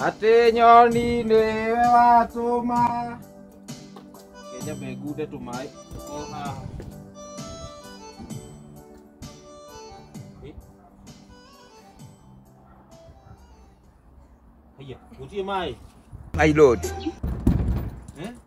atĩ nyoni nĩwe watũma kenya mengunde tũmaĩ o haha haiya gũtirĩ maĩ my lord Eh?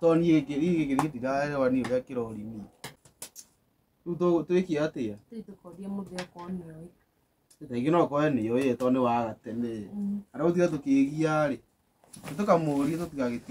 tondũ niĩ gĩkĩ niĩ gĩkĩ niĩ ndiraerewa niĩ ũrĩa kĩrori niĩ rĩu tũ- twĩke atĩa Tũthiĩ tũkorie mũthĩ okorwo nĩ oĩ. rĩngĩ no ũkore nĩ ũĩ tondũ nĩ waga tene Mm. arĩa gũtiga tũkĩgia rĩ nĩ tũkamũria tũtigagĩti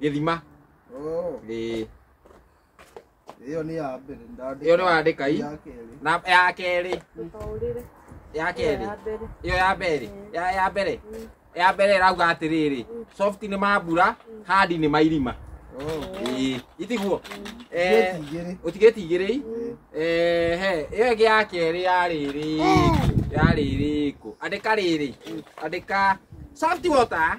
gĩthima Oh, Ĩĩ. ĩyo nĩ ya mbere ndandĩka. Ĩyo nĩ wandĩka ii? Ya kerĩ. na ya kerĩ Ndũkaũrĩre. ya Ĩyo kerĩ ya mbere. iyo ya mbere ya ya mbere ya mbere ĩrauga atĩrĩrĩ soft nĩ mambura hard nĩ mairima Oh, Ĩĩ, itiguo Eh, ngeti igĩrĩ. ũtigĩtigĩrĩi Ĩĩ. he ĩyo ĩngĩ ya kerĩ ya rĩrĩ ya rĩrĩ kũ andĩka rĩrĩ andĩka soft water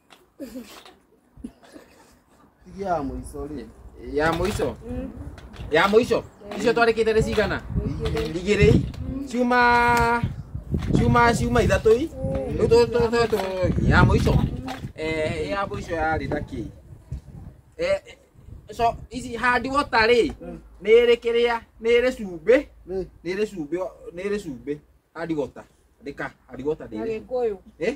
ya mũico rĩ ya mũico ya mũico icio twarĩkĩte nĩ cigana igĩrĩ ciuma ciuma ciuma ithatũ i rĩu tũ- tũ- tũ- tũ- ya mũico Eh, ya mũico yarĩ na kĩ Eh, eh, so ici handi wota rĩ nĩ ĩrĩ kĩrĩa nĩ ĩrĩ cumbĩ nĩ nĩ ĩrĩ cumbĩ nĩ ĩrĩ cumbĩ handi wota andĩka handi wota nĩ ĩrĩ cumbĩ. Agĩkũyũ. Eh?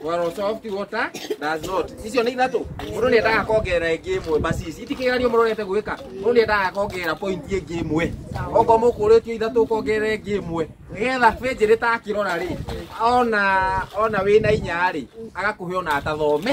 Well, soft water does not. Icio nĩ ithatũ. Mũndũ nĩ endaga kuongerera ĩngĩ ĩmwe basi ici. Iti kĩgeranio mũrorete gwĩka. Mũndũ nĩ endaga kuongerera point ĩngĩ ĩmwe. Okorwo mũkũrĩtio ithatũ kuongerera ĩngĩ ĩmwe. Nĩgetha benjĩ rĩtakĩrora rĩ, ona ona wĩna inya rĩ, agakũhe ona atathome.